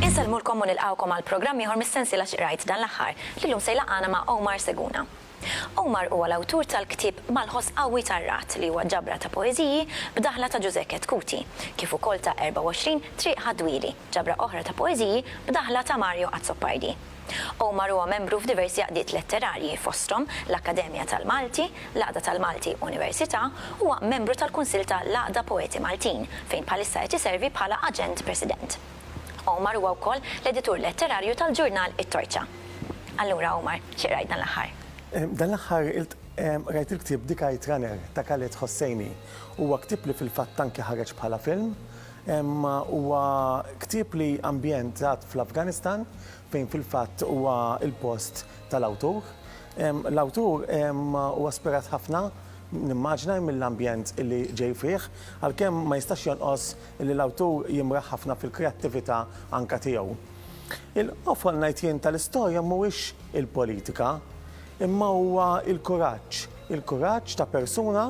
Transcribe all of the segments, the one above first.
Insellmulkom u nilqgħukom għal programm ieħor mis-sensiela X'qrajt dan l-aħħar, li llum se jlaqqagħna ma' Omar Seguna. Omar huwa l-awtur tal-ktieb Mal-Ħoss Qawwi tar-Ragħad li huwa ġabra ta' poeżiji b'daħla ta' Ġużè Chetcuti, kif ukoll ta' 24 Triq Ħad-Dwieli, ġabra oħra ta' poeżiji b'daħla ta' Mario Azzopardi. Omar huwa membru f'diversi għaqdiet letterarji, fosthom l-Akkademja tal-Malti, l-Għaqda tal-Malti Università, huwa membru tal-Kunsill ta' l-Għaqda Poeti Maltin, fejn bħalissa qed iservi bħala Aġent President. Omar huwa wkoll l-editur letterarju tal-ġurnal it-Torċa. Allura Omar, xi qrajt dan l-aħħar? Dan l-aħħar qrajt il-ktieb The Kite Runner ta' Khaled Hosseini. Huwa ktieb li fil-fatt anki ħareġ bħala film. Huwa ktieb li ambjentat fl-Afganistan fejn fil-fatt huwa l-post tal-awtur. L-awtur huwa ispirat ħafna, nimmaġina, mill-ambjent li ġej fih, għalkemm ma jistax jonqos li l-awtur jimraħ ħafna fil-kreattività anke tiegħu. Il-qofol ngħid jien tal-istorja mhuwiex il-politika, imma huwa l-kuraġġ, il-kuraġġ ta' persuna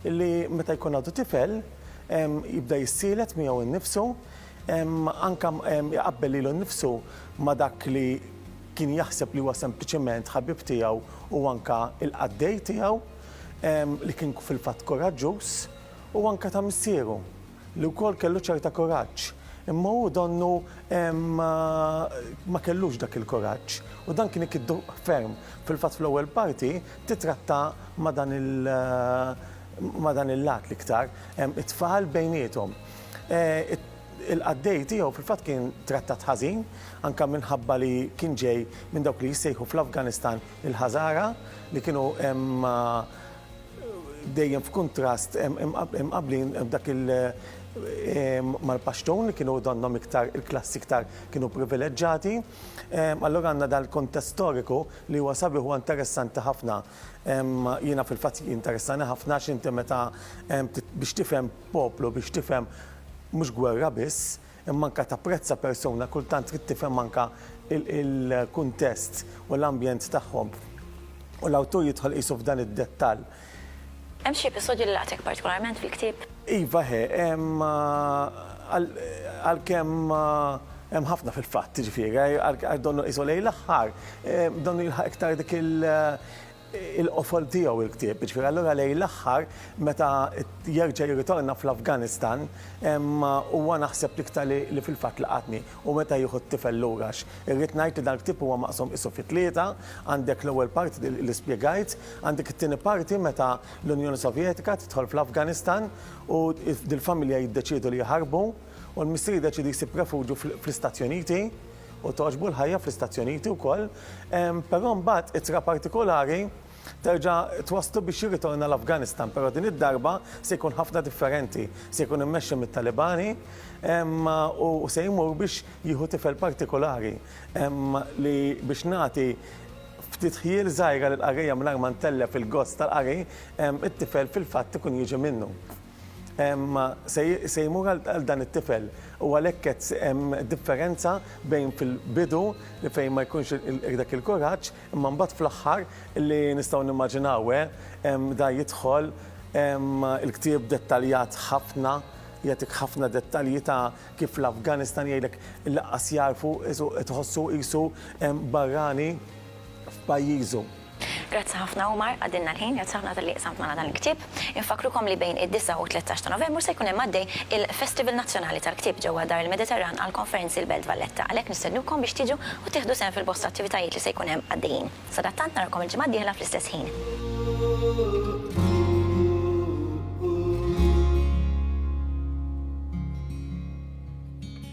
li meta jkun għadu tifel jibda jissielet miegħu nnifsu, anke iqabbel lilu nnifsu ma' dak li kien jaħseb li huwa sempliċement ħabib tiegħu u anke l-qaddej tiegħu li kien fil-fatt kuraġġuż. u anke ta' missieru, li wkoll kellu ċerta kuraġġ, imma hu donnu ma kellux dak il-kuraġġ u dan kien ikiddu ferm. Fil-fatt fl-ewwel parti titratta ma' dan ma' dan il-lat l-iktar, it-tfal bejniethom. Il-qaddej tiegħu fil-fatt kien trattat ħażin, anke minħabba li kien ġej minn dawk li jissejħu fl-Afganistan il-Ħażara li kienu dejjem f'kuntrast imqabblin dak il mal-Pashtun li kienu donnhom iktar il-klassi iktar kienu privileġġati. Allura għandna dan il-kuntest storiku li huwa sabiħ huwa interessanti ħafna. Jiena fil-fatt jinteressani ħafna għax inti meta biex tifhem poplu, biex tifhem mhux gwerra biss, Imma anke tapprezza persuna, kultant trid tifhem anke l-kuntest u l-ambjent tagħhom. U l-awtur jidħol qisu f'dan id-dettall. Hemm xi episodju li laqtek partikolarment fil-ktieb? Iva ħe, hemm. Għalkemm hemm ħafna fil-fatt, jiġifieri, donnu qisu lejn l-aħħar, donnu jilħaq iktar dik il-qofol tiegħu il-ktieb. Jiġifieri allura lejn l-aħħar meta jerġa' jirritorna fl-Afganistan huwa naħseb l-iktar li fil-fatt laqatni u meta jieħu t-tifel lura għax irrid ngħid li dan il-ktieb huwa maqsum qisu fi tlieta, għandek l-ewwel parti li spjegajt, għandek it-tieni parti meta l-Unjoni Sovjetika tidħol fl-Afganistan u dil-familja jiddeċiedu li jaħarbu u l-missier jiddeċiedi jsib refuġju fl-Istati Uniti. u togħġbu l-ħajja fl-istazzjoniti wkoll, però mbagħad ittra partikolari terġa' twasslu biex jirritorna l-Afganistan, però din id-darba se jkun ħafna differenti, se jkun immexxi mit-Talibani u se jmur biex jieħu tifel partikolari li biex nagħti ftit ħjiel żgħira lill-qarrejja mingħajr ma ntellef il-gost tal-qari, it-tifel fil-fatt ikun jiġi minnu. se jmur għal dan it-tifel u għalhekk qed hemm differenza bejn fil-bidu li fejn ma jkunx dak il-kuraġġ imma mbagħad fl-aħħar li nistgħu nimmaġinaw hemm da jidħol hemm il-ktieb dettaljat ħafna jagħtik ħafna dettalji ta' kif l-Afganistan jgħidlek lanqas jagħrfu tħossu qisu barrani f'pajjiżu. Grazzi ħafna Omar, għaddielna l-ħin, grazzi ħafna talli qsamt magħna dan il-ktieb. Infakkrukom li bejn id-disgħa u t-tlettax ta' Novembru se jkun hemm għaddej il-Festival Nazzjonali tal-Ktieb ġewwa Dar il-Mediterran għall-Konferenzi l-Belt Valletta, għalhekk nistednukom biex tiġu u tieħdu sehem fil-bosta attivitajiet li se jkun hemm għaddejjin. Sadattant narakom il-ġimgħa d-dieħla fl-istess ħin.